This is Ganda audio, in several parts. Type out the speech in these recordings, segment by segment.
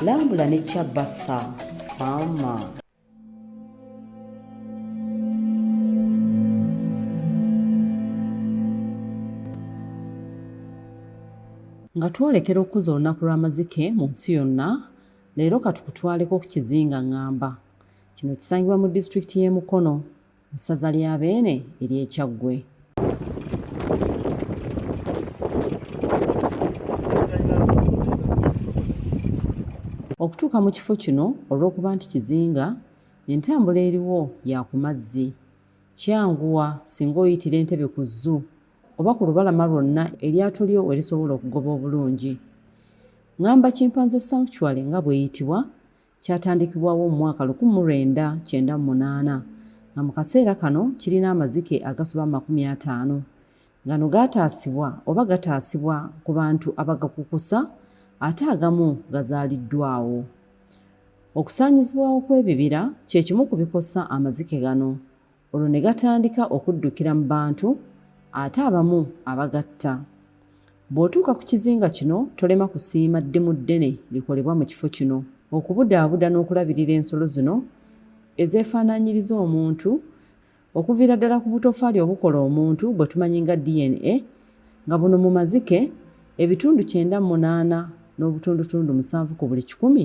lambula ne kyabasa faama nga twolekera okukuza olunaku lw'amazike mu nsi yonna leero katukutwaleko ku kizinga ngamba kino kisangibwa mu disitulikiti y'e mukono mu ssaza lya Beene ery'e Kyaggwe. Okutuuka mu kifo kino olw'okuba nti kizinga, entambula eriwo ya ku mazzi. Kyanguwa singa oyitira entebe ku zzu oba ku lubalama lwonna eryato lyo we lisobola okugoba obulungi. Ngamba Kimpanze Sanctuary nga bw'eyitibwa, Kyatandikibwawo mu mwaka lukumi mu lwenda kyenda mu munaana nga mu kaseera kano kirina amazike agasoba mu makumi ataano. Gano gaataasibwa oba gataasibwa ku bantu abagakukusa ate agamu gazaaliddwawo. Okusaanyizibwawo kw'ebibira kye kimu ku bikosa amazike gano olwo ne gatandika okuddukira mu bantu ate abamu abagatta bw'otuuka ku kizinga kino tolema kusiima ddimu ddene likolebwa mu kifo kino okubudaabuda n'okulabirira ensolo zino ezeefaanaanyiriza omuntu okuviira ddala ku butofaali obukola omuntu bwe tumanyi nga dna nga buno mu mazike ebitundu kyenda munaana n'obutundutundu musanvu ku buli kikumi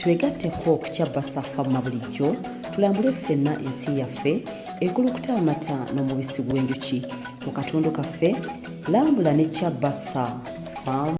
twegatteko okukyabba safamma bulijjo tulambule ffenna ensi yaffe ekulukuta amata n'omubisi gw'enjuki mu katundu kaffe lambula ne kyabba sa